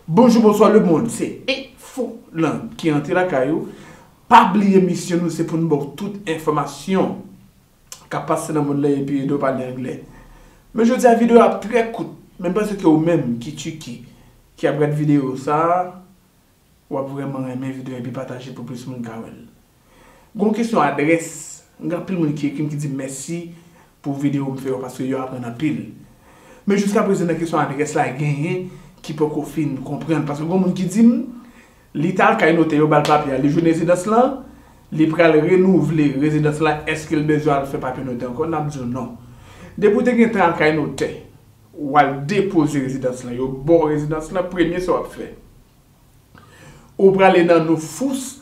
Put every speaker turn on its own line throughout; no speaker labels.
Bonjou bonswa le mond se info lan ki antre lakay ou pa bliye misyon nou se pou nou ba w tout enfòmasyon kap pase nan mond lan epi ede w pale anglè men jodi a videyo ap trè kout men m panse ke ou menm ki Turquie ki ap gad videyo sa wap vrèman renmen videyo a epi pataje l pou plis moun ka wè l Gon kesyon adrès, m gen anpil moun ki ekrim ki dim mèsi pou video m fè yo paske yo aprann anpil. Men jiska prezan nan kesyon adrès la genyen ki poko fin konprann paske gon moun ki dim li t al kay notè yo bal papye a li jwenn rezidans lan li pral renouvle rezidans la èske l bezwen al fè papye notè ankò nap diw non. Depi w te gentan al kay notè wal depoze rezidans lan yo baw rezidans lan premye sa wap fè ou prale nan nou fous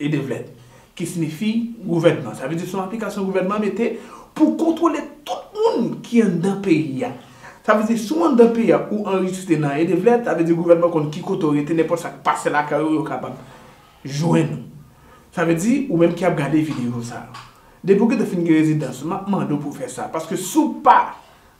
E devlèt, ki sinifi gouvènman. Sa vle di se yon aplikasyon gouvènman mete pou kontwole tout moun ki anndan peyi a. Sa vle di si w anndan peyi a ou anrejiste nan e devlèt, sa vle di gouvènman konn ki kote w rete, nenpòt sa k pase lakay ou yo kapab jwenn ou. Sa vle di ou menm ki ap gade videyo sa a. Depi w gen tan fin gen rezidans, m ap mande w pou w fè sa. Paske si w pa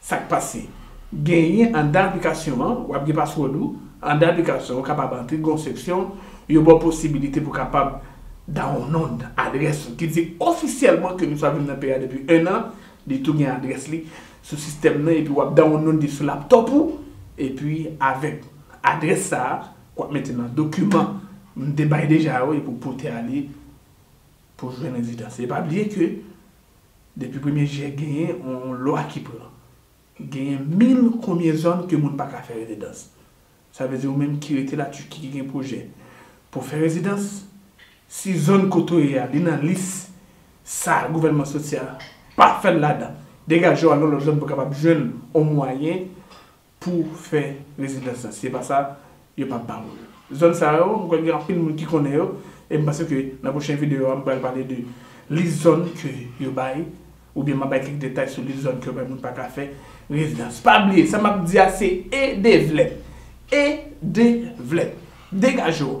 Sak pase? Genyen andan aplikasyon an, wap gen password ou, andan aplikasyon ou kapab antre gen yon seksyon yo baw posibilite pou kapab dawonlond adrès ou ki di ofisyèlman ke misye ap viv nan peyi a depi 1 an, li tou gen adrès li sou sistèm nan epi wap dawonlond li sou laptop ou epi avèk adrès sa wap mete nan dokiman m te bay deja yo epi w pote ale pou jwenn rezidans e pa bliye ke Depi premye jye genyen on lwa ki pran. Genyen mil konbyen zòn ke moun pa ka fè rezidans. Sa vle di ou menm ki rete la Turquie ki gen pwojè pou fè rezidans, si zòn kote ou ye a li nan lis sa gouvènman soti a pa fèl ladan, degaje w al yon lòt zòn pou kapab jwenn on mwayen Pou fè rezidans la. Si se pa sa, yo pap ba ou l. Zòn sa yo, m kwè gen anpil moun ki konnen yo, e m panse ke nan pwochen videyo a m pral pale de lis zòn ke yo bay, oubyen m ap bay kèk detay sou lis zòn ke yo bay moun pa ka fè rezidans. Pa bliye, sa m ap di a se edevlèp! Edevlèp! Degaje w!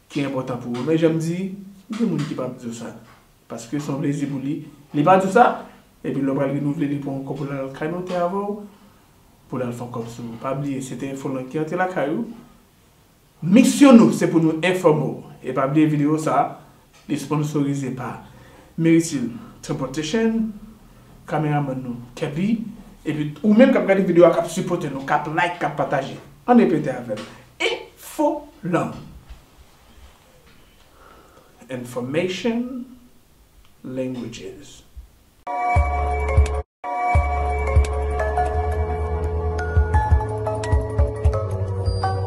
ki enpòtan pou ou men jan m di gen moun ki pap di w sa paske son plezi pou li li pa di w sa epi lè w pral renouvle li pran w ankò pou l al kay notè avè w pou l al fon kòb sou ou pa bliye se te enfolan ki antre lakay ou misyon nou se pou nou enfòme w e pa bliye videyo sa li sponsorize pa Meritil Tranportation kameramann nou Kepy epi ou menm kap gade videyo a kap sipote nou kap like kap pataje an repete avè m Ehh fo lanmou. Information languages.